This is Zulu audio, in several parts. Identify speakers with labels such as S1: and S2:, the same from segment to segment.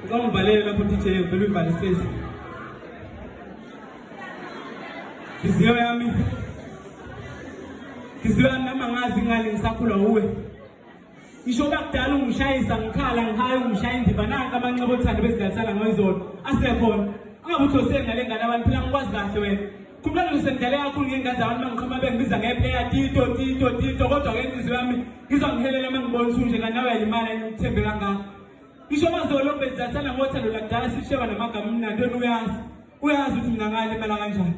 S1: Ngicela ungivalele lapho DJ ngicela uvale space. Inhliziyo yami. Inhliziyo yami noma ngazi ngani ngisakhula uwe. Isho bakudala ungishayisa ngikhala ngihaya ungishaya indiva nanka amanxeba othando bezidatsala ngoyizolo asekhona. Angabuthi osengale ngane abantu phela ngikwazi kahle wena. Kumele ngisendele kakhulu ngengazi abantu bangiqhuma bengibiza ngeplayer tito tito tito kodwa ke inhliziyo yami ngizwa ngihelela uma ngibona usunje kanti nawe yalimala ngithembe kangaka. Ngisho mazolo bezasana ngothando lakudala sisheba namagama mnandi wena uyazi. Uyazi ukuthi mina ngalimala kanjani.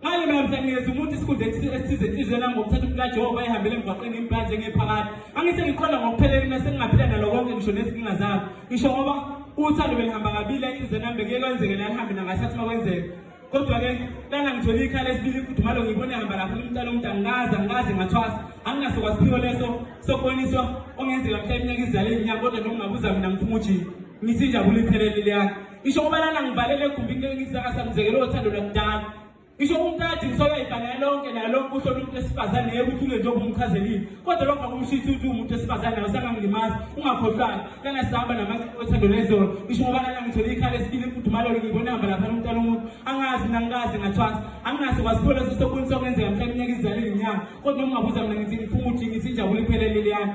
S1: Ngale mina mhla ngiyeza umuntu isikhundla esithize inhliziyo yami ngokuthatha umpila Jehova ehambele emgwaqeni impanje ngephakathi. Angise ngiqonda ngokuphelele mina sengingaphila nalo konke ngisho nezinkinga zami. Ngisho ngoba uthando belihamba kabili enhliziyweni yami bekuye kwenzeke nalihambe nangasathi makwenzeka. kodwa ke lana ngithole ikhala esibili ifudumalo ngibona ehamba lapha umntana umuntu angikaze angikaze ngathwasa anginaso kwasiphiwo leso sokuboniswa ongenzeka mhla iminyaka izale inyanga kodwa noma ngabuza mina ngifuma ujini ngithi injabulo iphelele leyana isho kuba lana ngivalele egumbini ngisakasamzekele othando lakudala isho umkade ngisola ibhangela lonke naye lonke uhlona umuntu esifazane yekuthi ule njengoba umchazelile kodwa lokho akumshithi ukuthi umuntu esifazane nawe sangangimazi ungakhohlwanga lana sihamba namaciko othando lezolo ngisho ngoba lana ngithole ikhala esibili imfudumalo ngiyibona hamba lapha umntana umuntu angazi mina ngikaze ngathwasa anginaso kwasipho leso sokunisa okwenzeka mhlawumbe inyaka izale ngenyanga kodwa noma ungabuza mina ngithi ngifuma ukuthi ngithi injabulo iphelele leyana